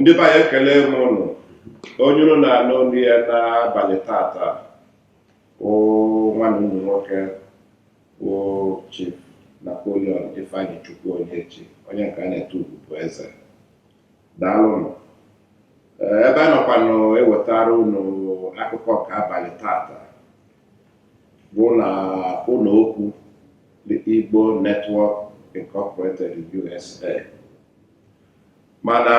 ndị be anyị ekele m ụnụ onye ụnụ na-anụ olu ya n'abalị tata wụ nwanne ụnụ nwoke wụ Chief Napoleon Ifeanyichukwu Onyechi onye nke a na-etu ugwu bụ eze daalụnụ Ee, ebe a nọkwanụ ewetara ụnụ akụkọ nke abalị tata bụ na ụlọ okwu The Igbo Network Incorporated USA mana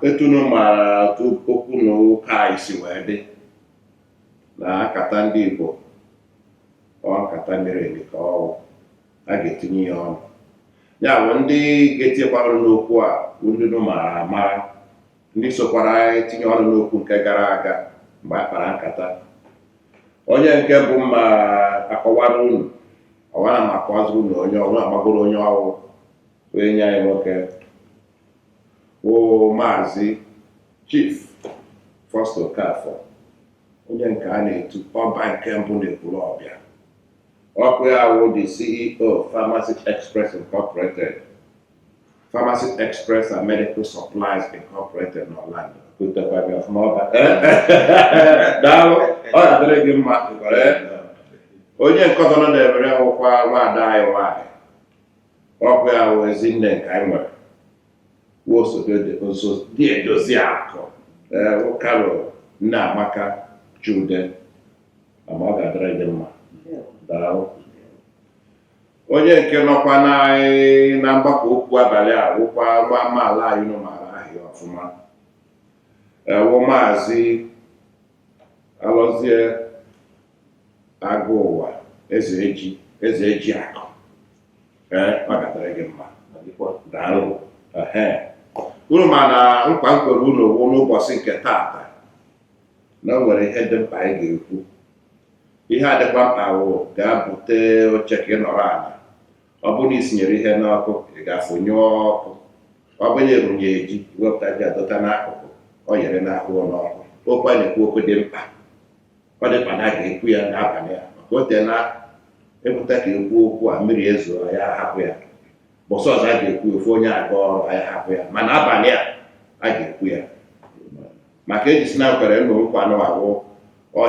etu unu mara okwu na ụka anyị si wee dị na nkata ndị Igbo ọ nkata miri emi ka ọ wụ a ga-etinye ya ọnụ ya bụ ndị ga-etinyekwa ọnụ n'okwu a bụ ndị unu mara amara ndị sokwara anyị tinye ọnụ n'okwu nke gara aga mgbe a kpara nkata onye nke mbụ m ga-akọwara unu ọwara ma akọwaziri unu onye ọ wụ amagoro onye ọ wụ enyi anyị nwoke bụ maazị Chief Foster Okafor onye nke a na-etu ọba nke mbụ n'Ekwulobia ọkwa ya wụ the CEO Pharmacy Express Incorporated Pharmacy Express and Medical Supplies Incorporated n'Orlando kutekwara ọfụma ọba daalụ ọ ga-adịrị gị mma onye nke ọzọ nọ n'ebe a wụkwa nwaada anyị nwaanyị ọkwa ya wụ ezi nne nke anyị nwere wụ osodi edozi akụ wụ Carol Nneamaka Chude ama ọ ga-adịrị gị mma daalụ onye nke nọkwa na mgbakọ okwu abalị a wụkwa nwa amaala anyị unu maara aha ya ọfụma wụ maazị alọzie Agụwa eze eji eze eji akụ ee ọ ga-adịrị gị mma daalụ ehe unu ma na nkwa m kwere unu wụ n'ụbọchị nke taata na o nwere ihe dị mkpa anyị ga-ekwu ihe a dịkwa mkpa wụ gaa bute oche ka ị nọrọ ala ọ bụrụ na i sinyere ihe n'ọkụ ị gaa fụnyụọ ọkụ ọ bụ na erunye ji wepụta ji a dọta n'akụkụ ọ yere n'ahụ n'ọkụ okwu a na-ekwu okwu dị mkpa ọ dị mkpa na a ga-ekwu ya n'abalị a maka o teela a pụta ka ekwu okwu a mmiri ezoo ya a hapụ ya ụbọsị ọzọ a ga-ekwu ya, ofu onye aga ọrụ anyị hapụ ya mana abalị a a ga-ekwu ya maka eji si na m kwere unu nkwa na ọ ga-awụ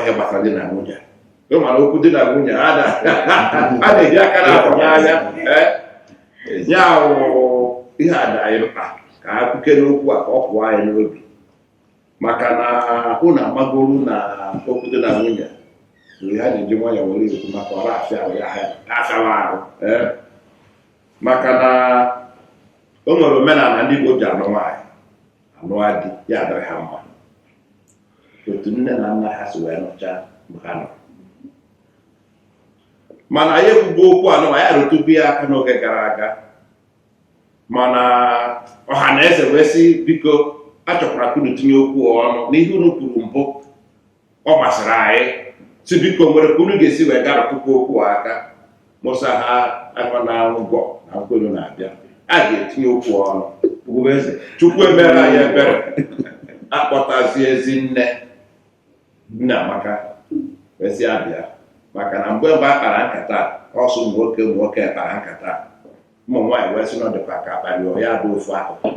ihe gbasara di na nwunye ị ma na okwu di na nwunye a na- a na-eji aka na akwa n'anya ee ya wụ ihe a dị anyị mkpa ka a kwukene okwu a ka ọ pụọ anyị n'obi maka na unu amagoro na okwu di na nwunye mgbe ha ji ji nwayọọ were ekwu maka ọrụ afịa ahụ ya ha afịawa ahụ ee. maka na o nwere omenala ndị Igbo ji anụ nwaanyị anụ di ya adịrị ha mma otu nne na nna ha si wee nụcha mgbe ha nọ mana anyị ekwugo okwu anụwa ya rụtụbu ya aka n'oge gara aga mana ọha na eze wee sị biko achọkwara ka unu tinye okwu ọnụ n'ihe unu kwuru mbụ ọ masịrị anyị sị biko nwere ka unu ga-esi wee gaa rụtụkwu okwu a aka mụsa ha akwa na ngwọ na nkwelu na-abịa a ga-etinye okwu ọnụ Chukwu emere anyị ebere akpọtazie Ezinne Nneamaka wee sị ya bịa maka na mgbe mgbe a kpara nkata a, ọ sọ ụmụ nwoke ụmụ nwoke kpara nkata a. ụmụ nwaanyị wee sị na ọ dịkwa ka a kpara ya bụ ofu akụkụ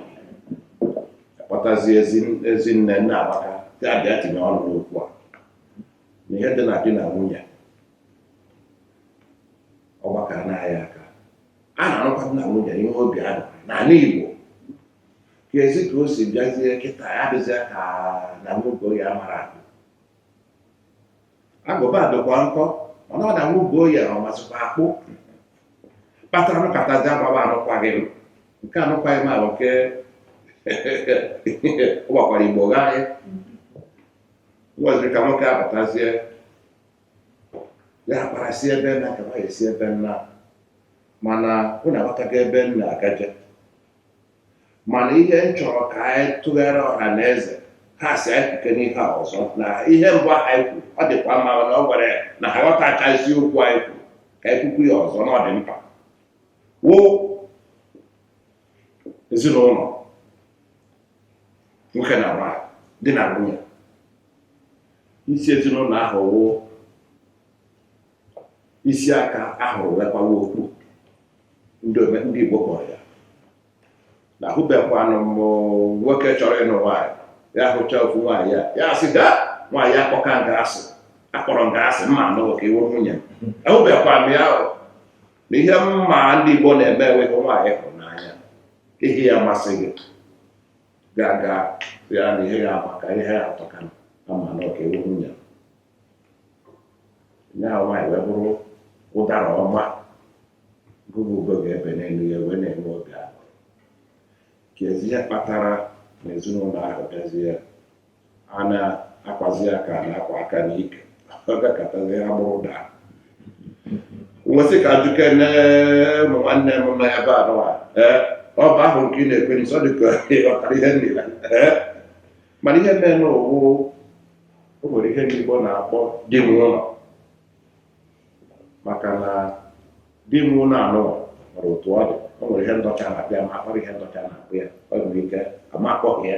akpọtazi ezi Ezinne Nneamaka sị ya bịa tinye ọnụ n'okwu a na ihe dị na di na nwunye ọ gbakara n'ahịa aka a na-anụkwa di na nwunye ihe obi a n'ala Igbo Kezi ka o si bịazie kịta ya dịzie ka na nwoke oyi amara akpụ agụba dịkwa nkọ mana ọ na nwoke oyi a amazịkwa akpụ kpatara nkatazi agbaba anụkwaghị m nke anụkwaghị m ahụ nke ọ gbakwara Igbo gharị nweziri ka nwoke apụtazie ya kpara si ebe na ka nwaanyị si ebe nna mana unu aghọtago ebe m na-agaje mana ihe m chọrọ ka anyị tụgharị ọha na eze ha sị anyị kwukene ihe a ọzọ na ihe mbụ ahụ anyị kwuru ọ dịkwa mma na ọ gwara ya na ha ghọtachazi okwu anyị kwuru ka anyị kwukwu ya ọzọ na ọ dị mkpa wụ ezinụlọ nwoke na nwaanyị di na nwunye isi ezinụlọ ahụ wụ isi a ka a hụrụ wee kwawa okpu ndị ome- ndị Igbo kpọrọ ya na ahụbekwanụ m nwoke chọrọ ịnụ nwaanyị ya hụcha ofu nwaanyị ya ya asị gị nwaanyị a akpọka m gị asị akpọrọ m gị asị m ma anụ ka ị wụ nwunye m ahụbekwanụ m ya ahụ na ihe m ma ndị Igbo na-eme e nwee nwaanyị ị hụrụ n'anya ihe ya masị gị ị gaa gwa ya na ihe ya amaka ihe ya atọka m na ọ ka ị wụ nwunye ya nwaanyị wee bụrụ ụdara ọma gị bụ ugo ga-ebe n'elu ya wee na-enwe obi ahụ kezi ihe kpatara na ezinụlọ ahụ bịazie a na-akwazi aka na-akwa aka n'ike ọ gakọtazi ha bụrụ ụda nwesị ka ajụkene ụmụ nwanne m nọ ebe anụwa ee ọ bụ ahụ m ka ị na-ekwe n'isi ọ dị ka ị ghọtara ihe nile ee mana ihe merenụ wụ o nwere ihe ndị Igbo na-akpọ di m ụlọ maka na di m ụlọ anụ nwere otu ọ dị o nwere ihe ndị ọcha na-akpọ ya ma akpọrọ ihe ndị ọcha na-akpọ ya o nwere ike ama akpọghị ya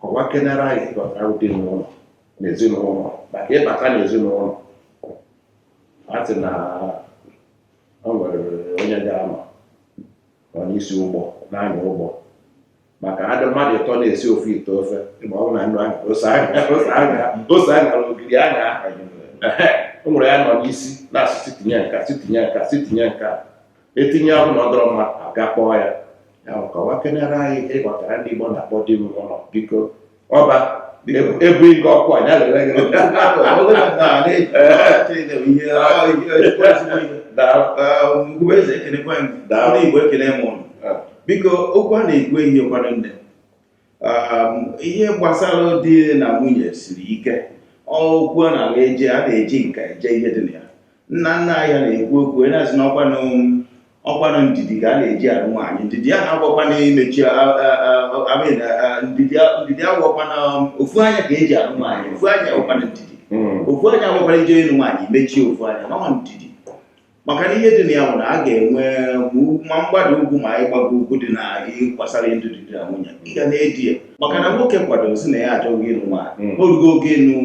kọwakenere anyị ihe ị ghọtara di n'ụlọ na ezinụlọ maka ị bata na ezinụlọ a sị na o nwere onye ga-anọ n'isi ụgbọ na-anya ụgbọ maka a dị mmadụ ịtọ na-esi ofu ite ofe ma ọ bụ na nnu anya ose anya ogiri anya o nwere ya nọ n'isi na-asị si tinye nka si tinye nka si tinye nka e tinye ọ bụ na ọ dọrọ mma a ga-akpọ ya ya kọwakenere anyị ihe ị ghọtara ndị Igbo na-akpọ di m ụlọ biko ọba ebu ike ọkụ a ya lere gị eze ekenekwa ndị Igbo ekene m ụnụ biko okwu a na-ekwu ihe kwado nne ihe gbasara di na nwunye siri ike okwu a na-eji a na-eji nka eje ihe dị na ya nna nna anyị na-ekwu okwu na-asị na ọkwanụ ọkwanụ ndidi ka a na-eji anụ nwaanyị ndidi a na-agwakwana imechi ndidi a gwakwa na ofu anya ka eji anụ nwaanyị ofu anya ọkwanụ ndidi hmm. ofu anya a gwakwa na i je ịnụ nwaanyị mechie ofu anya nwee ndidi maka na ihe dị na ya bụ na a ga-enwe ma mgbada ugwu ma ịgbago ugwu dị na gbasara ndụ di na nwunye ị ga na-edi ya maka na nwoke kwadoro sị na ya achọgo ịnụ nwaanyị Mm. na o rugo oge ịnụ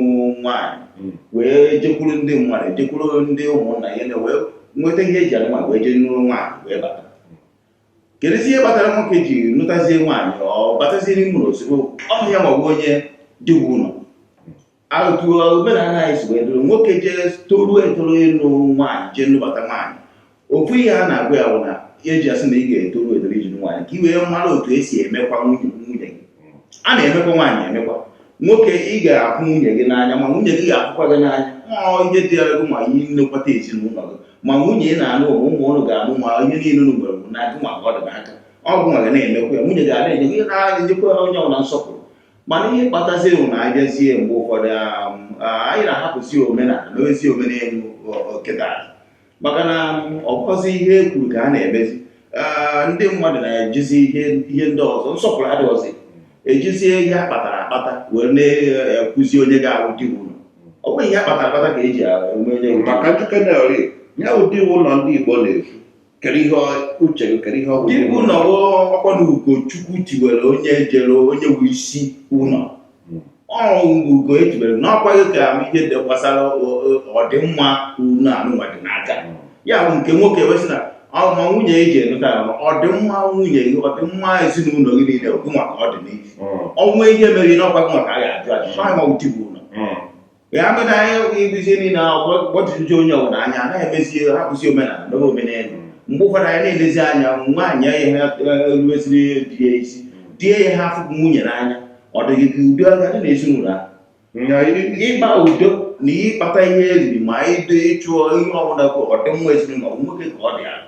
nwaanyị Mm. wee jekwuru ndị mmadụ jekwuru ndị ụmụnna ya na wee nweta ihe eji anụ nwaanyị wee jee nụrụ nwaanyị wee bata kedụzi ihe kpatara nwoke ji nụtazie nwaanyị ọ batazie n'ime ụlọ ozugbo ọ bụ ya ma ọ bụ onye di wu ụlọ otu omenala anyị si wee dịrị nwoke jee toruo etoru ịnụ nwaanyị jee nụbata nwaanyị ofu ihe a na-agwa ya bụ na eji asị na ị ga-etoru etoru iji nwaanyị ka i wee mara otu esi emekwa nwunye nwunye gị a na-emekwa nwaanyị emekwa nwoke ị ga-ahụ nwunye gị n'anya ma nwunye gị ga-ahụkwa gị n'anya ma ihe dị ya gị ma ihe nlekwata ezinụlọ gị ma nwunye ị na-anụ ụmụ ụmụ ụnụ ga-amụ ma ihe niile ụnụ nwere na gị nwa ọ dị n'aka ọ gị nwa ga na-emekwa ya nwunye ga na-enye gị na-enyekwa onye ọbụla nsọpụrụ mana ihe kpatazie bụ na a bịazie mgbe ụfọdụ um, anyị na-ahapụzi omenala mewezi omenelu kịta maka na um, ọ bụrọzi ihe e kwuru ka a na-emezi uh, ndị mmadụ na-ejizi ihe ndị ọzọ nsọpụrụ adịghọzi ejizie ihe a kpatara akpata wee na-ekwuzi onye ga-awụ di wu ụlọ ọ bụghị ihe a kpatara akpata ka eji ama onye maka ndị kenel onye wụ di wu ụlọ ndị Igbo na-efu kedu ihe uche gị kedu ihe ọ bụ di bụ ụlọ ọkwa na ugo Chukwu tiwere onye jere onye bụ isi ụlọ hmm. ọ bụ ugo e tiwere na ọkwa gị ka ihe dị gbasara ọdịmma ụlọ anụnwa dị n'aka hmm. ya bụ nke nwoke wee sị na ma nwunye eji enụta ọdịmma nwunye gị ọdịmma ezinụlọ gị niile gụnwa ka ọ dị n'ihu hmm. ọnwa ihe mere n'ọkwa gụnwa ka a ga-ajụ ajụ ma di bụ ụlọ ya mere anyị ọgwụ iduzie niile gbọtụzi onye ọbụla anya anaghị emezi hapụzi omenala mebe omenelu mgbe ụfọdụ anyị na-elezi anya nwaanyị ihe rueziri di ya isi di ya ha afụ nwunye n'anya ọ dịghị ka udo ga-adị n'ezinụlọ a ịkpa udo na ịkpata ihe oriri ma ịdị ịchụ ihe ọbụla bụ ọdịmma ezinụlọ nwoke ka ọ dị n'aka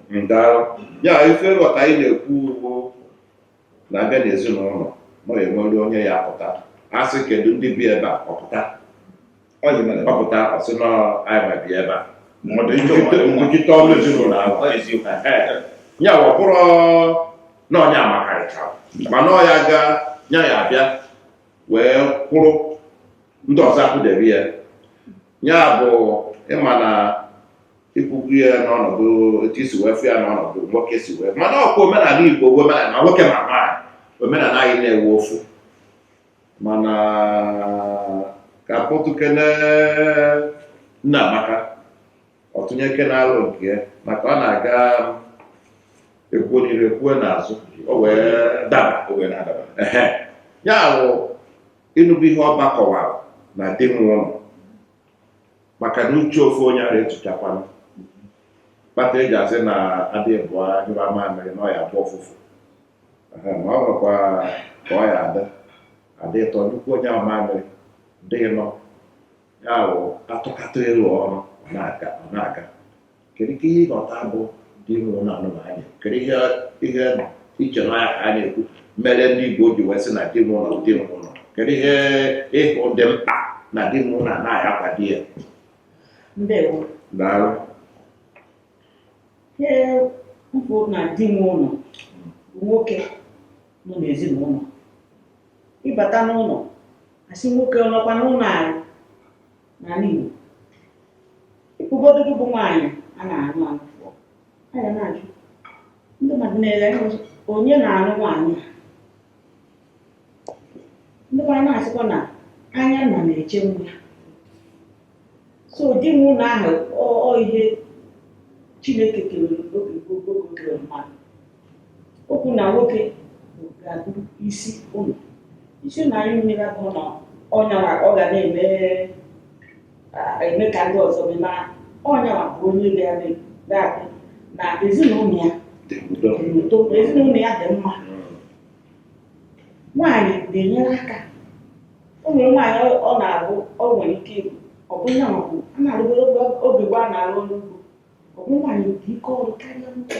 ya ife nghọta anyị na-ekwu ugbu a na a bịa n'ezinụlọ na a ya-enwere onye ya-apụta a sị kedu ndị bi ebe a ọ pụta ọ pụta ọ sị na anyịnwa bi ebe a nọchite ọnụ ezinụlọ ahụ ya bụ abụrọ na ọ ya makarịcha mana ọ ya ga nya ya abịa wee kwụrụ ndị ọzọ akwụdebe ya ya bụ ịma na ikwukwu ya n'ọnọdụ etu i si wee fụ ya n'ọnọdụ nwoke si wee mana ọkwa omenala Igbo bụ omenala ma nwoke ma nwaanyị omenala anyị na-abụ ofu mana ka a kpọtụkene nna Amaka ọ tụnyekene alo nke ya maka ọ na-aga ekwuo n'iru ekwuo n'azụ o wee daba o wee na-adaba ehe ya bụ ị nụbu ihe ọba kọwara na di nwe ụlọ maka na uche ofu onye ara ezuchakwanụ kpata e ji asị na a dị ịbụọ anyụ mamịrị na ọ ya-agbọ ụfụfụ Ehe, ma ọ bụrụkwa ka ọ ya ada a dị ịtọ nnukwu onye ahụ mamịrị dị nọ ya bụ a tụkọta elo ọrụ ọ na-aga ọ na-aga Kedu ka ihe ị ghọta bụ di nwe ụlọ na anụ anya kedu ihe ihe i che na ya ka a na-ekwu mere ndị Igbo ji wee sị na di nwe ụlọ di nwe ụlọ kedu ihe ị hụ dị mkpa na di nwe ụlọ na anaghị akwa di ya ndewo daalụ ihe m kwu na di nwe ụlọ bụ nwoke nọ n'ezinụlọ ị bata n'ụlọ a sị nwoke ọ nọkwa n'ụlọ anyị n'ala Igbo ụfọdụ bụ nwaanyị a na-anụ anụ a ga na-ajụ ndị mmadụ na-ele onye na-anụ nwaanyị ndị mmadụ na-asịkwa na anya nna na-eche nwa so di nwe ụlọ ahụ ọ ihe Chineke kere oge gboo gboo kere mmadụ Okwu na nwoke bụ ga-abụ isi ụlọ. Isi ụlọ anyị maara abụghị na ọ yanwa ọ ga na-eme ah, eme ka ndị ọzọ mee mana ọ yanwa bụ onye ga-eme ga-abụ na ezinụlọ ya dị udo dị n'udo na ezinụlọ ya dị mma nwaanyị ga-enyere aka o nwere nwaanyị ọ- ọ na-abụ ọ nwere ike ịbụ ọ bụ ya maọbụ a na-arụgoro oge gboo a na-arụ ọrụ ugbo ọ bụ nwaanyị dị ike ọrụ karịa nwoke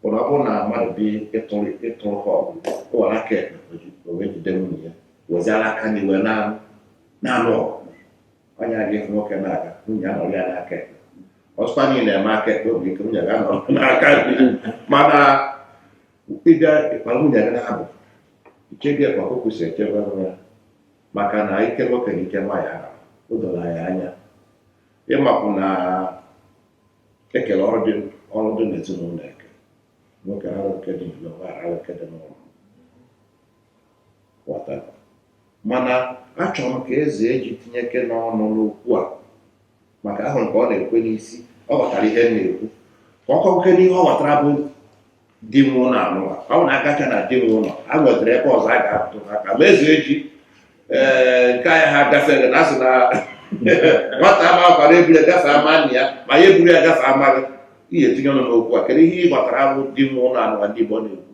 bụ na ọ bụrụ na mmadụ bịa ịtụrụ ịtụrụ ha ọgụ o were aka ekpe o wee jide nwunye ya weziara aka nri wee na-anụ na-anụ ọgụ onye aga ịfụ nwoke na-aga nwunye anọrọ ya n'aka ekpe ọsụkwa niile na-eme aka ekpe obi ike nwunye ga anọrọ n'aka ekpe mana ịbịa ịkpara nwunye gị na-abụ ichebe ya ka ọkụkọ si echebe nwa ya maka na ike nwoke na ike nwaanyị ahụ o doro anyị anya ịmapụ na ekele ọrụ dị ọrụ dị n'ezinụlọ e kee nwoke arụ nke dị n'ụlọ nwaanyị arụ nke dị n'ụlọ ghọta mana achọrọ m ka Ezeji tinyekene ọnụ n'okwu a maka ahụ m ka ọ na-ekwe n'isi ọ ghọtara ihe m na-ekwu ka ọ kọkene ihe ọ ghọtara bụ di bi ụlọ anụwa ọ bụ na agacha na di bi ụlọ a nwetara ebe ọzọ a ga-atụ aka ma Ezeji ee ka anyị ha gafere na a sị na nwata ama akwara eburu ya gafe ama nna ya ma ya eburu ya gafe ama gị ihe etinye ọnụ n'okwu a kedu ihe ị ghọtara bụ di bi ụlọ anụwa ndị Igbo na-ekwu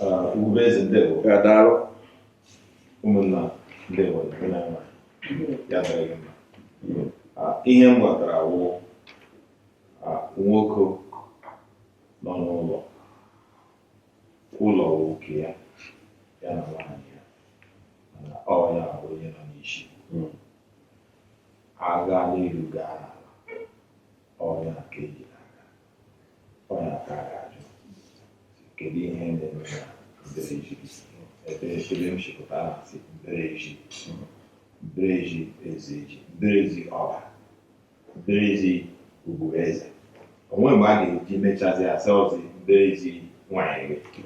Ah, Ugwueze ndewo ya daalụ ụmụnna ndewo ndị na-enwe ya dịrị gị mma Ah, ihe m ghọtara wụ nwoke nọ n'ụlọ ụlọ nwoke ya ya na nwaanyị ya mana ọ ya bụ onye nọ n'isi hmm. a gaa n'elu gaa n'ala ọ ya ka e ji n'aka ọ ya ka a ga-ajụ kedu ihe na-eme na mbara ezi ebe ebe m si pụta na-asị mbara ezi mbara ezi Ezeji mbara ezi Ọba Mbara ezi Ugwueze o nweghị mgbe a ga-eji mechazi a sị ọ bụzi mbara ezi nwanyị gị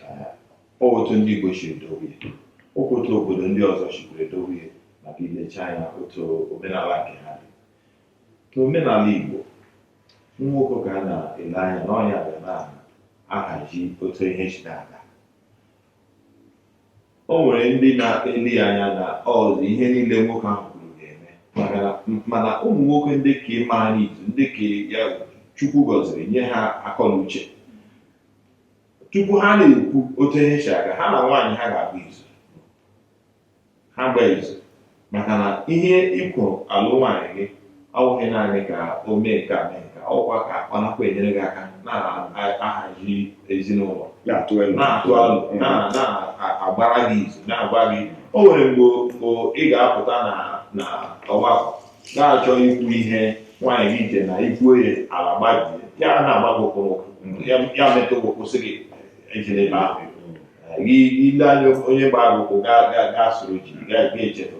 Ee, ọ otu ndị Igbo si edowe ya ọ kwa otu obodo ndị ọzọ sikwa edowe ya maka i lecha anya otu omenala nke ha dị ka omenala Igbo nwoke ka a na-ele anya na ọ ya ga na-ahazi otu ihe si na-aga O nwere ndị na-ele ya anya na ọ bụ ihe niile nwoke ahụ kwuru ga-eme maka na mana ụmụ nwoke ndị ka mara izu ndị ka ya Chukwu gọziri nye ha akọ na uche tupu ha na-ekwu otu ihe si aga ha na nwaanyị ha ga-agba izu ha gbaa izu maka na ihe ị kwọ alụ nwaanyị gị ọwụghị naanị ka o mee nke a mee nke a ọkwa ka ọ nakwa enyere gị aka na-ahazi ezinụlọ na-atụ alo na-agbara gị izu na-agwa gị o nwere mgbe ị ga-apụta na ọgbakọ na-achọ ikwu ihe nwaanyị gị iche na i kwuo ya ala gbajie ya na-agba gị ụkwụ ya metụ gị kwụsị gị e jiri ebe ahụ gị ele anya onye gba gị ụkwụ gaa soro ji ga-echetụ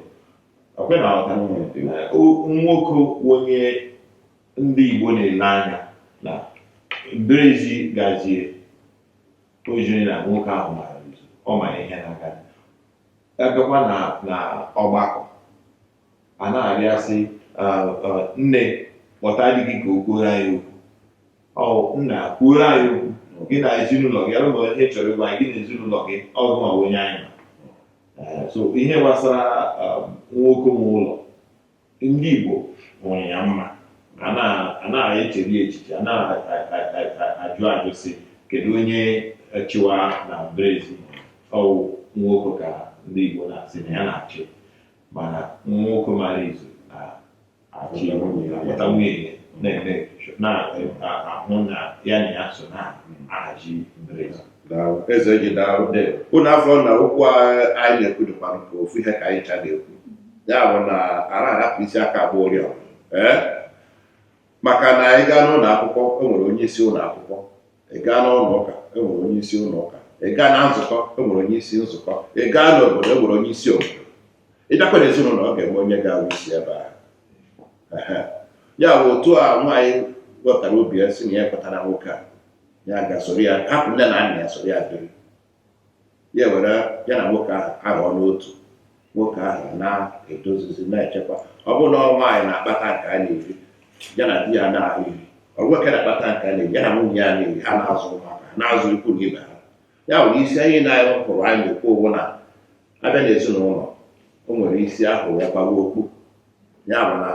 ọkwe na ọta nwoke onye ndị Igbo na-ele anya na mbara ezi gazie o ziri na nwoke ahụ mara ọ mara ihe na-aga abịakwa na ọgbakọ a na-arịọ asị nne kpọta di gị ka o kwuoro anyị okwu ọ nna kwuoro anyị okwu gị na ezinụlọ gị lee ihe a chọrọ ịgwa gị na ezinụlọ gị ọ gị wụ onye anyị ma so ihe gbasara nwoke nwe ụlọ ndị Igbo hụrụ ya mma a na-echeri echiche a na-ajụ ajụ sị kedu onye chịwa na mbara ezi ọwụ nwoke ka ndị Igbo na-asị na ya na-achị mana nwoke mara izu na-achị akpọta nwunye ya na-eme na-ahụ na ya na ya so na-ahazi mbara ezi Daalụ. Ezeji daalụ Ndewo. unu afụ na okwu a anyị na-ekwu dịkwa nke ofu ihe ka anyị cha na-ekwu ya bụ na ara ahapụ isi aka agba ụrịọ ee maka na ị gaa n'ụlọ akwụkwọ enwere onye isi ụlọ akwụkwọ ị gaa n'ụlọ ụka enwere onye isi ụlọ ụka ị gaa na nzukọ enwere onye isi nzukọ ị gaa n'obodo enwere onye isi obodo ị bịakwa n'ezinụlọ ọ ga-enwe onye ga-awụ isi ebe ahụ Ehe. ya bụ otu a nwaanyị wepụtara obi ya sị na ya kwetara nwoke a ya ga-esoro ya hapụ nne na nna ya soro ya biri ya were ya na nwoke ahụ aghọọ n'otu nwoke ahụ na-edozizi na-echekwa ọ bụrụ na ọ nwaanyị na-akpata nke a na-eri ya na di ya na-eri ọ nwoke na-akpata nke a na-eri ya na nwunye ya na-eri ha na-azụ ụmụaka ha na-azụ ikwu na ibe ha ya bụ na isi ihe nna anyị kwuru anyị na-ekwu bụ na abịa n'ezinụlọ o nwere isi ahụ ya kpuwa okpu ya bụ na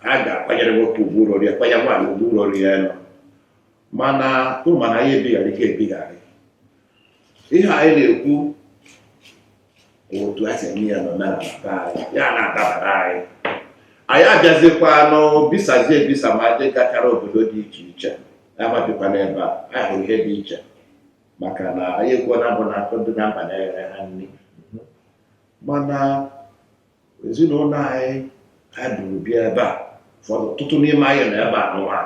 a ga-akwanyere nwoke ugwu ruru ya kwanye nwaanyị ugwu ruru ya elu mana unu ma na anyị ebigharị ka ebigharị ihe anyị na-ekwu otu a si eme ya n'ụlọ ya na-adabara anyị anyị abịazikwanụ bisazie ebisa ma ndị gachara obodo dị iche iche ma bikwa n'ebe a anyị hụrụ ihe dị iche maka na anyị ekwuo na mbụ na nkụ dị na mba na-eghere ha nri mana ezinụlọ anyị anyị buru bịa ebe a ụfọdụ ọtụtụ n'ime anyị nọ ebe a n'ụwa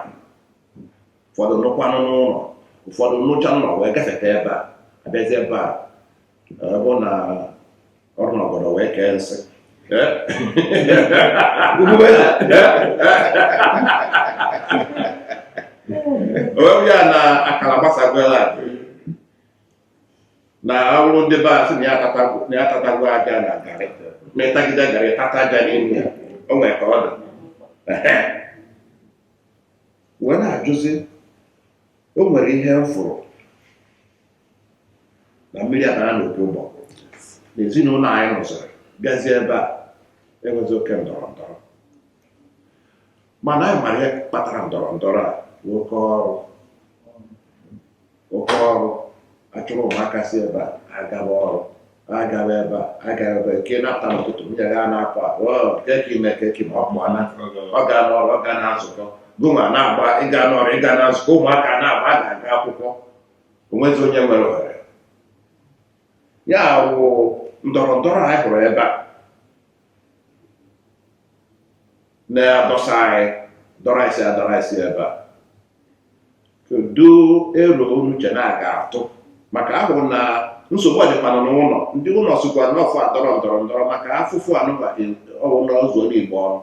ụfọdụ nụkwanụ n'ụlọ ụfọdụ nụcha n'ụlọ wee gafeta ebe a abịazi ebe a ọ bụ na ọrụ n'obodo wee kee nsị onwe ya na akara gbasagwela na ọrụ ndị be asị na ya atatagwo aja na garị ma ị tagide garị tata aja n'ime ya o nwere ka ọ dị wee na-ajụzi o nwere ihe m fụrụ na mmiri abara n'opi ụgbọgụrụ n'ezinụlọ anyị rụziri bịazie ebe a enwezi oke ndọrọ ndọrọ mana anyị mara ihe kpatara ndọrọ ndọrọ a n'oke ọrụ oke ọrụ a chụrụ ụmụaka si ebe a agaba ọrụ agaba ebe a agaba ebe nke na-apụta n'ụtụtụ nwunye ya na-apụ apụ keki ime keki ma ọ bụ ana ọ ga n'ọrụ ọ ga na nzukọ gịnwa na-agba ịga n'ọrụ ịga na nzukọ ụmụaka na-agba a ga-aga akwụkwọ o nwezi onye nwere ohere ya wụ ndọrọ ndọrọ anyị hụrụ ebe a na-adọsa anyị dọrọ anyị si adọrọ anyị si ebe a kedu ero unu che na a ga-atụ maka ahụ na nsogbu ọ dịkwa na n'ụlọ ndị ụlọ sokwa n'ọfụ adọrọ ndọrọ ndọrọ maka afụfụ anụba ọ wụ na ọzọ onye igbo ọrụ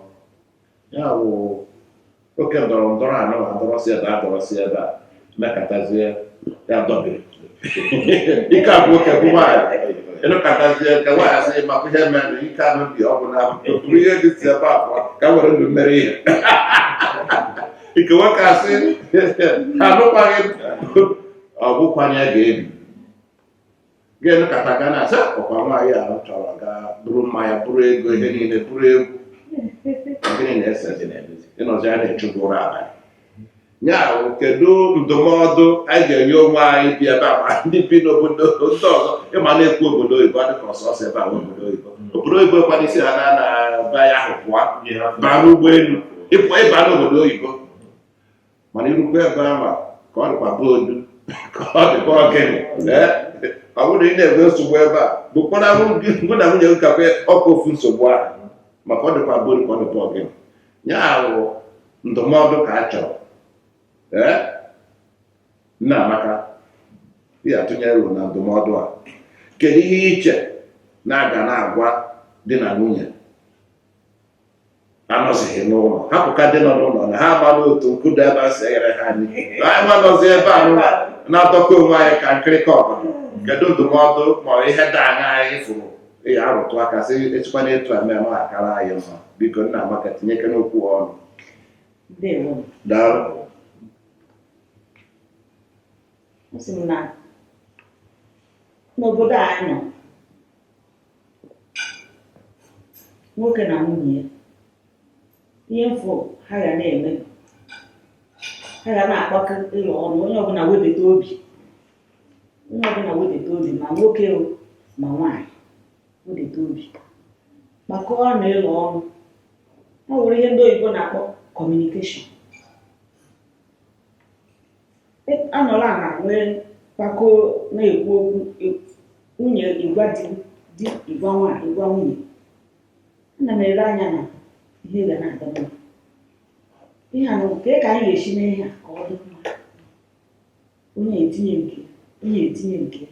ya bụ oke ndọrọ ndọrọ a nawa a dọrọ si ebe a dọrọ si ebe a mekatazie ya dọbiri ike agwụ nwoke gwụ nwaanyị ị nọkatazie nke nwaanyị asị maka ihe mere na ike anụ bi ọ bụ na bụrụ ihe dị si ebe abụọ ka were ndụ mere ihe nke nwoke asị anụkwaghị ọ bụkwanye ga-ebi ga-emekata ga na-asị ọkwa nwaanyị ahụ chọrọ ga buru mmanya buru ego ihe niile buru egwu gịnị na-ese dị na-emezi ị nọzịa na-achụgbu ụra abalị ya bụ kedu ndụmọdụ anyị ga-enye onwe anyị bi ebe a ma ndị bi n'obodo ndị ọzọ ị ma a na-ekwu obodo oyibo ọ dịka ọ sọsọ ebe a bụ obodo oyibo obodo oyibo kwa na i si ana nna be ya ahụ pụọ baa n'ụgbọelu ị pụ ị ba n'obodo oyibo mana i rukwa ebe ahụ ka ọ dịkwa be odu ka ọ dịkwa be ọgịnị ee ọ bụrụ na ị na-enwe nsogbu ebe a bukwara ụmụ na nwunye gị gakwa ọkwa ofu nsogbu ahụ maka ọ dịkwa be odu ka ọ dịkwa be ọgịnị ya bụ ndụmọdụ ka a chọrọ ee nna amaka ị ya-atụnyere ọnụ na ndụmọdụ a kedu ihe i che na a ga na-agwa di na nwunye anọzighị n'ụlọ hapụka ndị nọ n'ụlọ na ha amala otu nkụda ebe a si enyere ha nri anyị nwa nọzi ebe a nụwa na-adọka onwe anyị ka nkịrịka ọbụla kedu ndụmọdụ ma ọ ihe dị aṅaa anyị fụrụ ya arụtụ aka sị e sikwana etu a mee ọ akara anyị mma biko nna amaka tinyekene okwu ọnụ ndewo daalụ m sị m na n'obodo a anyị nọ nwoke na nwunye ya ihe mbụ ha ga na-eme ha ga na-akpakọ elo ọnụ onye ọbụla wedata obi onye ọbụla wedata obi ma nwoke o ma nwaanyị wedata obi kpakọọ na elo ọnụ ọ nwere ihe ndị oyibo na-akpọ communication anọla na nwee mkpakọ na-ekwu okwu e- nwunye ịgwa di di ịgwa nwaanyị ịgwa nwunye ana m ele anya na ihe ga na-aga mma ihe a na nke ka anyị ga-esi mee ihe a ka ọ dị mma onye etinye nke ya, onye etinye nke ya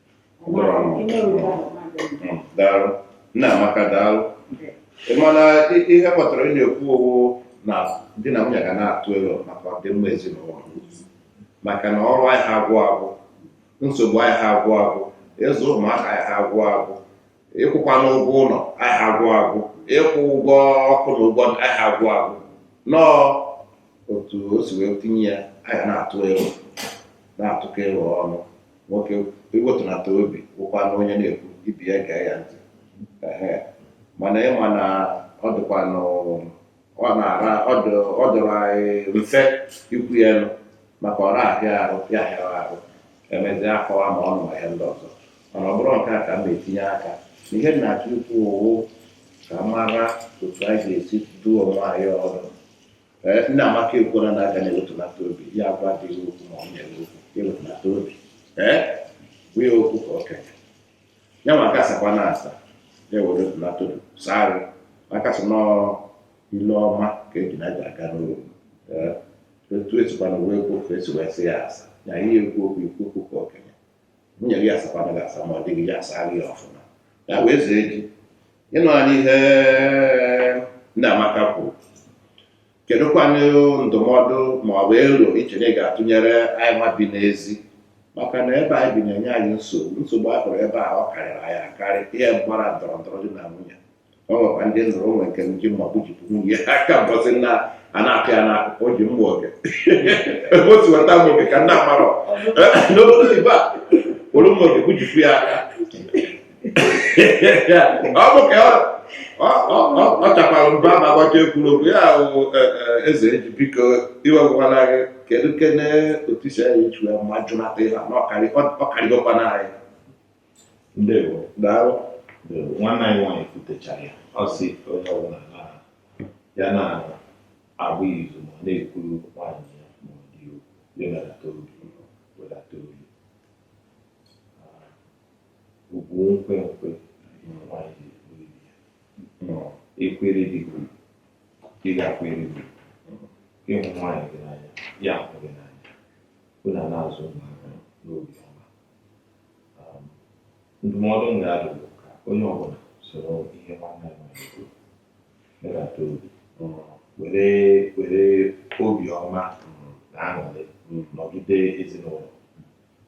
daalụ nna amaka daalụ mana ihe m ghọtara ị na-ekwu ọ wụ na di na nwunye ga na-atụ elo maka ọdịmma ezinụlọ maka na ọrụ adịha agwụ agwụ nsogbu adịha agwụ agwụ ịzụ ụmụaka adịha agwụ agwụ ịkwụkwanụ ụgwọ ụlọ aha agwụ agwụ ịkwụ ụgwọ ọkụ na ụgwọ aha agwụ agwụ na ọ otu o si wee tinye ya a ga na-atụ elo na-atụkọ elo ọnụ nwoke ewetunata obi bụkwanụ onye na-ekwu ibe ya gee ya ntị mana ị ma na ọ dịkwanụ ọ na-ara ọ dọ- ọ dịrị anyị mfe ikwu ya n'ọnụ maka ọ na-ahịa ahụ ya ahịara ahụ emezi akọwa ma ọ nọ ahịa ndị ọzọ mana ọ bụrụ nke a ka m na-etinye aka ihe m na-achọ ikwu ọ wụ ka a mara otu anyị ga-esi duo onwe anyị ọdụ ee nna amaka ekwuola na a ga na-ewetunata obi ya agwa di okwu ma ọ na-eme okwu ewetunata obi ekwu okwu ka okenye ya nwa ga-asakwanụ asa ya wetunata obi saa maka a sị na ile ọma ka ejuna ji aga n'ogwu otu e sikwana wee kwuo ka e si wee sị ya asa na ihe ekwu okwu ikwu okwu ka okenye nwunye gị asakwana gị asa ma ọ dịghị ya asa gị ọfụma ya wee zee ji ị nụla ihe nna amaka kwuru kedụkwanụ ndụmọdụ ma ọ bụ elo i che na ị ga-atụnyere anyị nwa bi n'ezi maka na ebe anyị bi na-enye anyị nsogbu nsogbu a hụrụ ebe a ọ karịrị anyị akarị ihe gbasara ndọrọ ndọrọ di na nwunye ọ nwekwa ndị nụrụ o nwe nke ji mma gbujipụ nwunye ya aka mbọsị na a na-agụ ya n'akụkọ o ji mma oge ebe o si weta mma oge ka m na-amarọ n'obodo oyibo a were mma oge gbujipụ ya aka ọ bụ ka ọ chakwara mba ma gbacha ekwuru okwu ya ahụ e, e, eze eji biko iwegwara gị kedu kene otu isi anyị echu ya ma jụnata ihe na ọ karịgokwana anyị ndewo daalụ nwanne anyị nwaanyị kwutechara ya ọ sị onye ọbụla na ya na-agba izu ma na-ekwuru nwaanyị ya ma ọ di ya wedata obi ọ bụ nkwe nkwe nwanyị ekwere di gị ọ ga-ekwere gị ị hụ nwaanyị gị n'anya ya ahụ gị n'anya unu na-azụ ụmụaka n'obi ọma um, ndụmọdụ m ga-adụ bụ ka onye ọbụla soro ihe nwanne anyị nwanyị kwuru wedata obi were were obiọma na aṅụrị nọgide ezinụlọ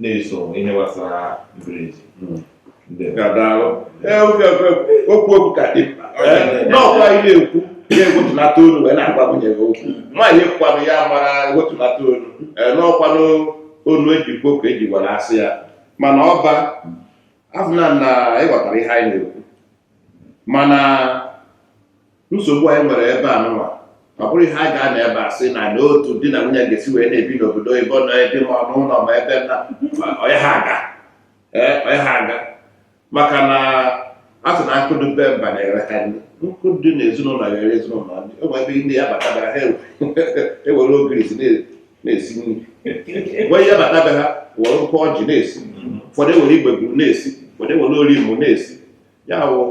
na-eso ihe gbasara mberede ga-adaalụ okwu okwu ka dị n'ọkwa ị na-ekwu ya ewetulata olu wee na-agwa nwunye gị okwu nwaanyị kwanụ ya mara ewetulata olu n'ọkwanụ olu e ji kwuo ka e ji were asa ya mana ọba afụna na ị ghọtara ihe anyị na-ekwu mana nsogbu anyị nwere ebe a nụwa ọ bụrọ ihe a ga-anọ ebe a sị na n'otu di na nwunye ga-esi wee na-ebi n'obodo oyibo nọ ebe ma ọ n'ụlọ ma ebe na onye ha aga ee onye ha aga maka na a sị na nkụ dụ be mba na-eghere ha nri nkụ dụ na ezinụlọ ga-eghere ezinụlọ nri e nwee ebe ndị ị ya-abata be ha e were ogirisi na-esi nri nwee ị ya-abata be ha were nkụ ọjị na-esi ụfọdụ e were igbe gburu na-esi ụfọdụ e were ori mụ na-esi ya wụ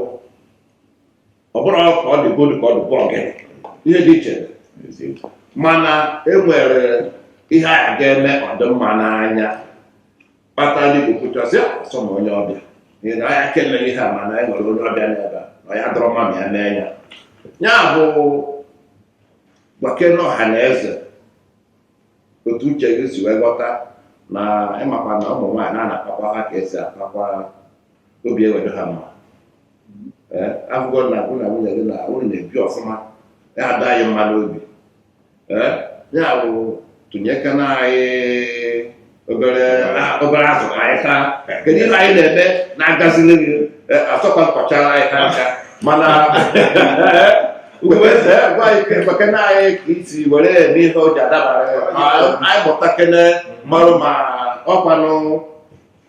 ọ bụrụ ka ọ dị golu ka ọ dịkwa ọgịnị ihe dị iche mana e nwere ihe a ga-eme ọ dị mma n'anya kpata ndị kwukwuchasị asọ na onye ọbịa n'ihi na anya kele ihe a mana e nwere onye ọbịa n'ebe a na ya dọrọ mma ma ya mee ya ya bụ gwakene ọha na eze otu uche gị si wee ghọta na ị makwa na ụmụ nwaanyị na a na-akpakwa ha ka e si akpa akwa obi ewee dụ ha mma ee a fụgo na gị na nwunye gị na unu na-ebi ọfụma ya adị anyị mma n'obi ee ya bụ tụnyekene anyị obere a- obere azụ ka anyị taa kedu ihe anyị na-eme na-agazili gị Ee, asọkwa nkọchara anyị ha ncha mana uweze gwa anyị ka ekwekene anyị ka i si were eme ihe o ji adabara ya. Ma anyị mụtakene marụ ma ọkwanụ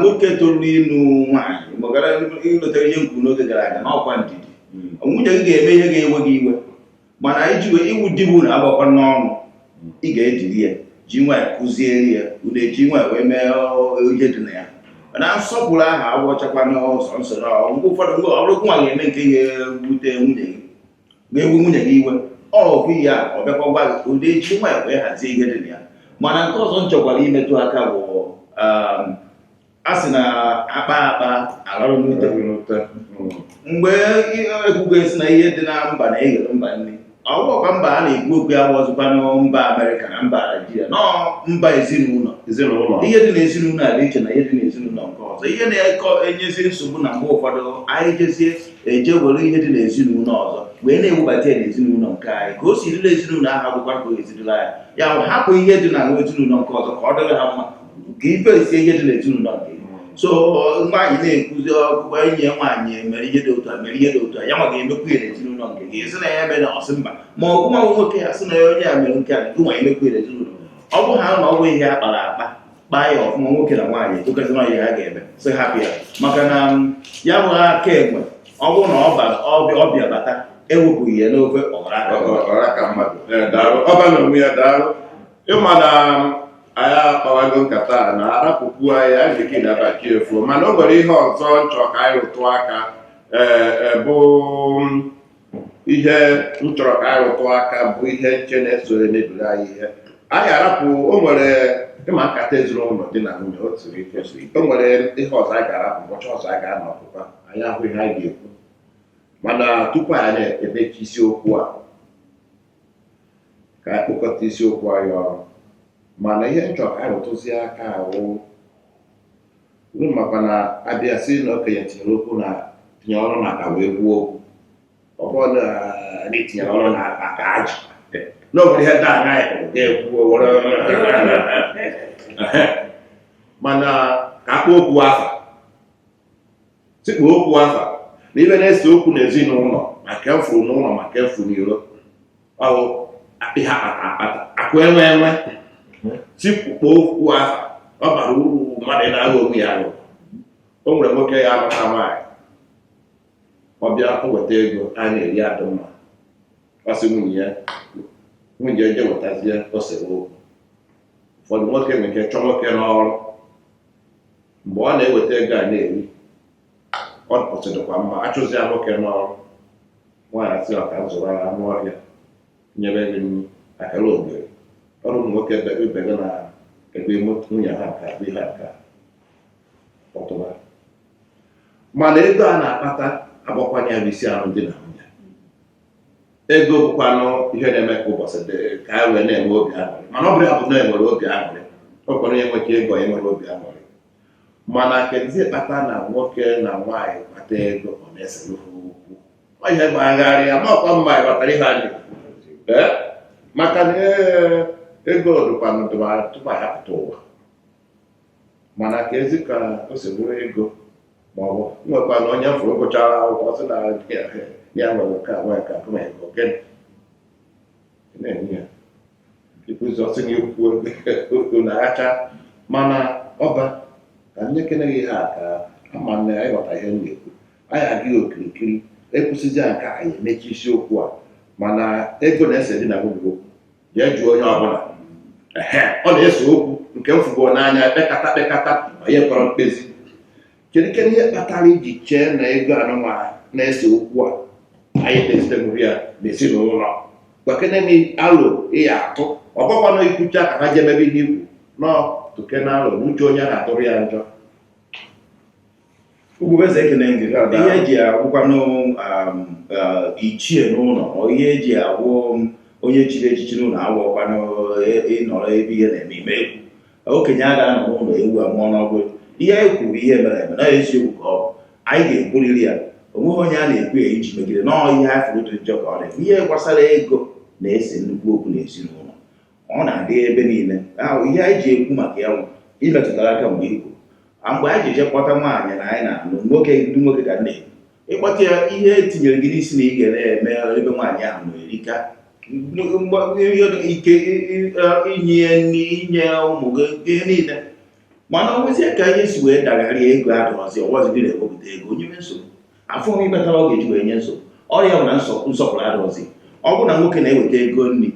nwoke toro ịlụ nwaanyị magara i lotere ihe m kwuru n'oge gara aga na ọ kwa ndidi hmm. nwunye gị ga-eme ihe ga-ewe gị iwe mana iji wee iwu di bụ na agbakwa n'ọnụ hmm. ị ga-ediri ya ji nwayọ kuziere ya ụdị e ji nwayọ wee mee ihe dị na ya na nsọpụrụ ahụ abụchakwanụ sọ nsọ na ọgwụgwụ ụfọdụ mgbe ọ bụrụ nwa ga-eme nke ga-ewute nwunye gị ga-ewe nwunye gị iwe ọ bụ ya ọ bịakwa gwa gị ụdị e ji nwayọ wee hazie ihe dị na ya mana nke ọzọ m chọkwara imetụ aka bụ um, a sị na akpa akpa alarụ n'ute mgbe ekwugo esi na ihe dị na mba na-eghere mba nri ọ bụkwa mba a na-ekwu okwu ya abụzikwanụ mba amerịka na mba naijiria na mba ezinụlọ ezinụlọ ihe dị na ezinụlọ a dị iche na ihe dị na ezinụlọ nke ọzọ ihe na-enyezi nsogbu na mgbe ụfọdụ anyị jezie eje were ihe dị n'ezinụlọ ọzọ wee na-ewebata ya n'ezinụlọ nke anyị ka o si dị na ezinụlọ ahụ abụkwa ka o ezinụlọ anyị ya bụ hapụ ihe dị na ezinụlọ nke ọzọ ka ọ dịrị ha mma ka ife esie ihe dị n'ezinụlọ nke so nwaanyị na-ekwuzi okwu ka enyi ya nwaanyị mere ihe dị otu a mere ihe dị otu a ya nwa ga-emekwu ya n'ezinụlọ nke gị sị na ya mere na ọ sị mba ma ọ bụ nwa nwoke ya sị na ya onye a mere nke a gị nwa emekwu ya n'ezinụlọ ọ bụ ha na ọ bụ ihe a kpara akpa kpaa ya ọfụma nwoke na nwaanyị ekwekọta n'ihe ha ga-eme sị hapụ ya maka na um, ya bụ aka enwe ọ bụrụ na ọ bịa bata ewepụghị ya n'ofe ọ bụrụ aka mmadụ ọba na onwe ya daalụ ị ma na um, anyị akpawago nkata na arapụkwu anyị anyị ga-eke na abaki efu mana o nwere ihe ọzọ m chọ ka anyị rụtụ aka ee eh, eh, bụ um, ihe m chọrọ ka anyị rụtụ aka bụ ihe m che na-eso emebiri anyị ihe anyị arapụ o nwere ị ma nkata ezinụlọ di na nwunye o siri ike o nwere ihe ọzọ anyị ga-arapụ ụbọchị ọzọ anyị ga-anọ ọ pụta anyị ahụ ihe anyị ga-ekwu mana tupu anyị na-emechi isiokwu a ka anyị kpokọta isiokwu anyị ọnụ mana ihe m chọrọ ka anyị rụtụzie aka wụ Unu makwa na a bịa sị na okenye tinyere okwu na tinyere ọnụ na aka wee kwuo okwu ọ bụrụ na anyị tinyere ọnụ na aka ajụ na obodo ihe ndị anya ya ga-ekwu mana ka a kpọọ okwu afa tikpo okwu afa na ihe na-ese okwu n'ezinụlọ ma nke a fụrụ n'ụlọ ma nke a fụ n'iro ọ wụ akụ a kpata akpata akụ enwe enwe tikpo okwu afa ọ barọ uru mmadụ ị na-aghọ onwe ya aghụghọ o nwere nwoke ya alụta nwaanyị ọ bịa o weta ego a na-eri adị mma ọ sị nwunye ya nwunye ya je wetazie o sere okwu ụfọdụ nwoke nwere ike chụọ nwoke n'ọrụ mgbe ọ na-eweta ego a na-eri ọ pụtụ dịkwa mma achụzia nwoke n'ọrụ nwaanyị asị ya ka zụrụ ya anụ ọhịa nyere gị nri akarogeri ọrụ ụmụ nwoke bebe ibe gị na ebe nwunye ha nke abụ ihe nke kpọtụba mana ego a na-akpata agbakwanye ya bụ isi ahụ di na nwunye ego bụkwanụ ihe na-eme ka ụbọchị dị ka a wee na-enwe obi aṅụrị mana ọ bụrụ ya bụ na enwere obi aṅụrị o kwere ya enwe ka ego ya enwere obi aṅụrị mana kedizi kpata na nwoke na nwaanyị kpata ego ọ na-esere ha okwu ọ ihe agbagharịa amakwa m ma ịghọtara ihe anyị maka na ego dụkwanụ tupu anyị apụta ụwa mana keezi ka o si bụrụ ego ma ọ bụ nwekwa na onye fụrụ gụchara akwụkwọ sị na ya nwere nke a nwee nke a gụnye ego gịnị na-enye ya ịkpụzọsị gị okwu ụlọacha mana ọba ka m nyekene gị ihe a ka ama na ya ịghọta ihe m na-ekwu anyị agaa ya okirikiri ekwusịzịa nke anyị emechi isiokwu a mana ego na-ese di na nwunye okwu jee jụọ onye ọbụla ehe ọ na-ese okwu nke m fụgo n'anya kpekata kpekata onye kpọrọ mkpezi kedukwa ihe kpatara iji chee na ego anụnwa na-ese okwu a anyị na-esitemụrụ ya n'ezinụlọ gwakene m alo ị ya-atụ ọ bụkwanụ ikwucha ka ha jemebe ihe ikwu nọ tụkene alo na uche onye adịrọ ya njọ Ugwueze ekele m gị Ya daa. ihe eji abụkwanụ um, uh, ichie n'ụlọ ọ ihe eji abụ um, onye chiri echichi n'ụlọ abụrọkwanụ e- ịnọrọ ebe ihe na-eme ị ma ekwu okenye a ga-anọ n'ụlọ ewu amụọ n'ọgbụ ihe anyị kwuru bụ ihe mere eme na eziokwu ka ọ bụ anyị ga-ekwuriri ya onweghị onye a na-ekwu ya iji megide na ọ ihe anyị fụrụ dị njọ ka ọ na-ekwu ihe gbasara ego na-ese nnukwu okwu n'ezinụlọ ọ na-adị ebe niile ahụ ihe anyị ji ekwu maka ya imetụtara aka mgbe ikwu mgbe anyị ji eje kpọta nwaanyị na anyị na-alụ nwoke ndị nwoke ga na-ekwu ịkpọta ya ihe etinyere gị n'isi na ị ga na-eme ebe nwaanyị ahụ na erika ike inye nri inye ụmụ gị ihe niile mana o nwezie ka ihe si wee dagharịa ego adịrọzi ọ bụrọzi gị na-ewepụta ego o nyewe nsogbu afụ nwa ihe kpatara ọ ga-eji wee nye nsogbu ọ ya bụ na nsọpụrụ adịrọzi ọ bụrụ na nwoke na-eweta ego nri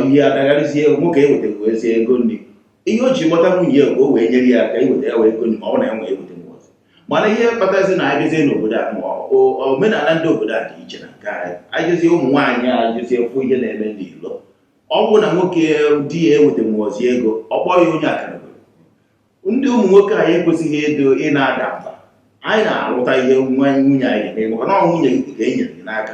ihe adagharịzie nwoke ewetaghịzi ego nri ihe o ji kpọta nwunye ya o wee nyere ya aka iweta ya bụ ego nri ma ọ na-enwe eweta mana ihe kpatazi na anyị jezie n'obodo a ma omenala ndị obodo a dị iche na nke anyị anyị jezie ụmụ nwaanyị a jezie fụ ihe na-eme n'ilo ọ bụrụ na nwoke di ya ewetanwuzi ego ọ kpọọ ya onye akalogoli ndị ụmụ nwoke anyị ekwesịghị ịdị na-ada mba anyị na-aghọta ihe nwa nwunye anyị ga-eme maka na ọ nwunye gị ka e nyere gị n'aka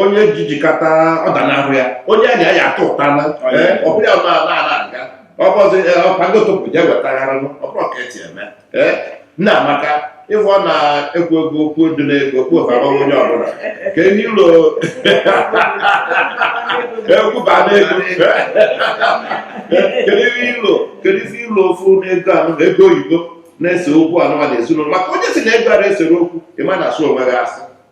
onye jijikata ọdanahụ ya onye a ya-ata ụta na ọ bụrụ ya na aga ọ bụzi ọkpagotopụ je wetaghara ọbụrụ ka eti eme nna amaka ife ọ na-ekwu ego okwu dị n'ego okwu ọbara onye ọbụla ka ihe ilo ekwuba n'ego kedu ihe ilo kedu ife ilo ofu n'ego anụ na ego oyibo na-ese okwu anụma na ezinụlọ maka onye sị na ego a na-esere okwu ị ma na-asị onwe gị asị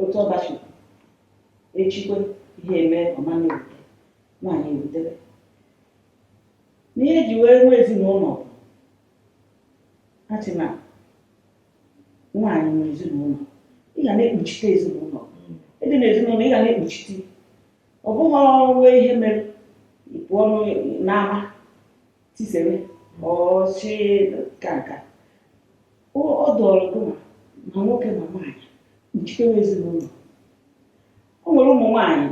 otu ọdachi echikwe ihe eme ọ ma na-ewute nwaanyị ewutere na ihe eji wee nwee ezinụlọ a sị na nwaanyị nwe ezinụlọ ị ga na-ekpuchite ezinụlọ ị dị na ezinụlọ ị ga na-ekpuchite ọ bụghị ọrụ ihe mere ị pụọ n'ụ- n'ama tisere ọchị ka nka ọ dịịrị gị ma ma nwoke ma nwaanyị kpuchitewe ezinụlọ o nwere ụmụ nwaanyị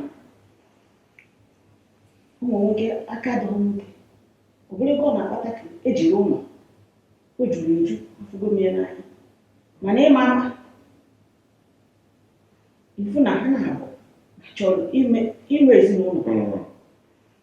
ụmụ nwoke aka dị nwoke ọ bụrụ ego ọ na-akpata ka ejiri ụlọ o juru eju afụgo m ya n'anya mana ịma ama ifu na ha naabọ chọrọ inwe ezinụlọ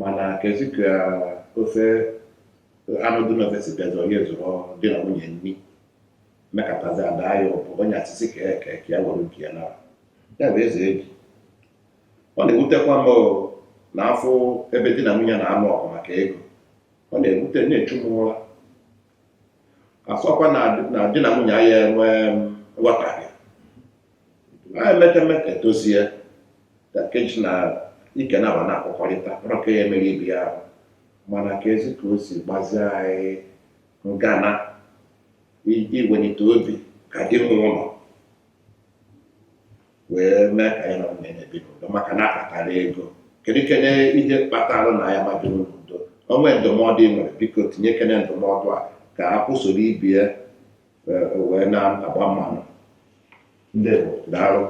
mana kezi ka ofe anụ dị n'ofe si bịazi onye zụrụ di na nwunye nri mekatazi ada ya ụbụ onye asịsị ka ya ka ya were nke ya nara ya bụ eze ebi ọ na-ewutekwa m na-afụ ebe di na nwunye na-anụ ọgụ maka ego ọ na-ewute na-echu m ụra a sịkwa na di na nwunye ya-enwe nghọtahie e mekata e dozie ka nkeji na ike na awa na-akpọkọrịta bụrụ ka ya emerụ ibe ya ahụ mana kezi ka o si gbazie anyị ngana i- iwelite obi ka di nwe ụlọ wee mee ka ya na nwunye na-ebi n'udo maka na akpatara ego kedu kene ihe kpatara na ya ama ebi n'udo o nwee ndụmọdụ ị nwere biko tinye kene ndụmọdụ a ka akwụ soro ibe ya wee na-agba mmanụ ndị daalụ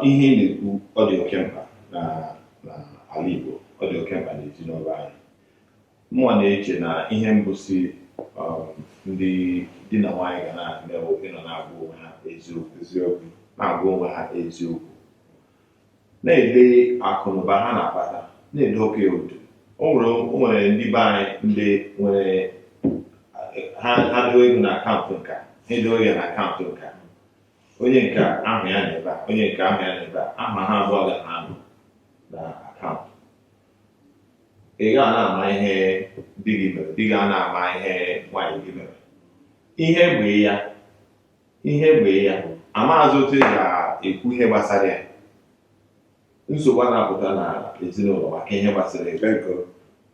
ihe ị na-ekwu ọ dị oke mkpa n'ala Igbo ọ dị oke mkpa n'ezinụlọ anyị mụwa na-eche na ihe mbụ si um, ndị di na nwaanyị ga na-eme wụ ịnọ na-agwa onwe ha eziokwu na-agwa onwe ha eziokwu na-ede akụnụba ha na-akpata na-edokọ otu o nwere o nwere ndị be anyị ndị nwere ha ha doo ego na akaụntụ nke a ha edoo ya na akaụntụ nke a onye nke a ahụ ya n'ebe a onye nke a ahụ ya n'ebe a aha ha abụọ ga na-anọ na akaụntụ ị ga na-ama ihe di gị mere di gị a na-ama ihe nwaanyị gị mere ihe bụ ya ihe be ya amaghịzi otu ị ga-ekwu ihe gbasara ya nsogbu a na-apụta na ezinụlọ maka ihe gbasara ego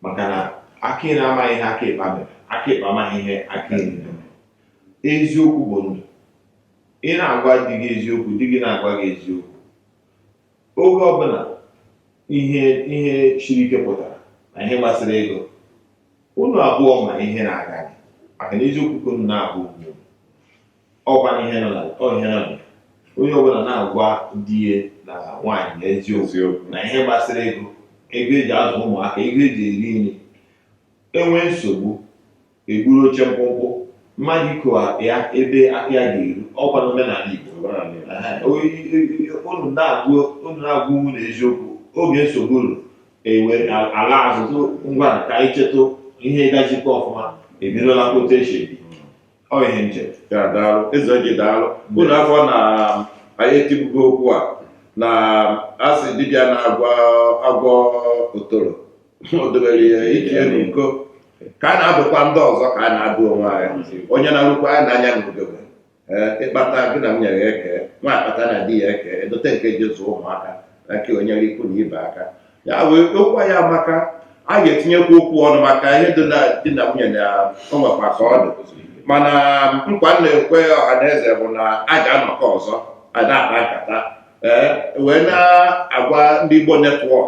maka na aka nri amaghị ihe aka ịkpa mere aka ịkpa amaghị ihe aka nri mere eziokwu bụ ndụ ị na-agwa di gị eziokwu di gị na-agwa gị eziokwu oge ọbụla ihe ihe siri ike pụtara na ihe gbasara ego unu abụọ ma ihe na-aga gị maka na eziokwu ka unu na-agwa unu ọkwa na ihe nọ na ọ ihe nọ na ya. onye ọbụla na-agwa di ya na nwaanyị na eziokwu eziokwu na ihe gbasara ego ego eji azụ ụmụaka ego eji eri nri e nwee nsogbu eburu oche mkpụmkpụ mmadụ ikowa ya ebe aka ya ga-eru ọkwa na omenala Igbo omenala Igbo. Ehe, o- i- i- i- unu na-agwa unu na-agwa unu eziokwu oge nsogbu ruru e wee laa azụtụ ngwa ka anyị chetụ ihe gajikọ ọfụma ebidola kpote echi ebi ọ ihe nche ya daalụ Ezeji daalụ unu afụ na anyị etibugo okwu a na asị dibịa na-agwọ otoro o dobere ike ya n'uko ka anyị na-adụkwa ndị ọzọ ka a na-adụ onwe anyị onye na-alụkwa anyị na-anya n'ugegbe ee ị kpata gị na nwunye ya eke nwaanyị kpata na di ya eke edote nke e ji azụ ụmụaka na nke e nyere ikwu na ibe aka ya wee okwu a amaka a ga-etinyekwu okwu ọnụ maka ihe dị na di na nwunye na o nwekwa ka ọ dị mana nkwa m na-ekwe ọha na eze bụ na a ga-anọkọ ọzọ a na-akpa nkata ee wee na-agwa ndị Igbo netwọk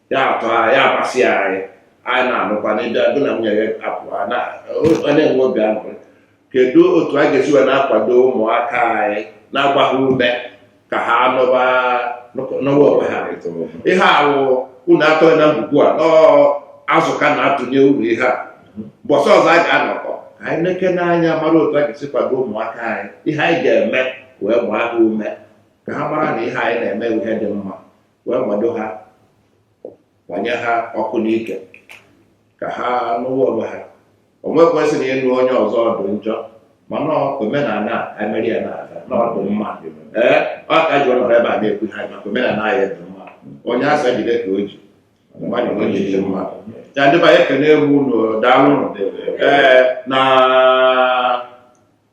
ya atọ ha ya amasị anyị anyị na-anụkwa na ịdị agụ na nwunye ya apụ ha na ọ na-enwe obi aṅụrị kedu otu a ga-esi wee na-akwado ụmụaka anyị na-agba ha ume ka ha nụba nụwa onwe ha ihe ahụ unu atọghị na mgbugbu a nọọ azụ ka na-atụnye uru ihe a mbọsị ọzọ a ga-anọkọ ka anyị nekene anya mara otu a ga-esi kwado ụmụaka anyị ihe anyị ga-eme wee gbaa ha ume ka ha mara na ihe anyị na-eme ihe dị mma wee gbado ha gbanye ha ọkụ n'ike ka ha nụwa onwe ha o nwekwesịrị ịnụ onye ọzọ dụ njọ mana omenala emeri ya na-aga na ọ dụ mma ee ọ ka e ji nọrọ ebe a na-ekwu ha maka omenala anyị dị mma onye asa jide ka o ji mmadụ onwe ji dị mma ya ndị be anyị ekenego unu daalụ ee na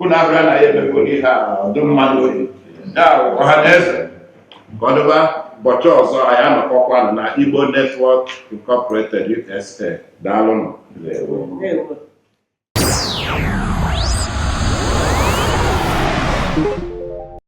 unu abịa na ya emekọrọ ihe a ọ dụ mma nụ oyi ya ọha na eze ka ọ dịba ụbọchị ọzọ anyị anọkọkwanụ na Igbo Network Incorporated USA daalụnụ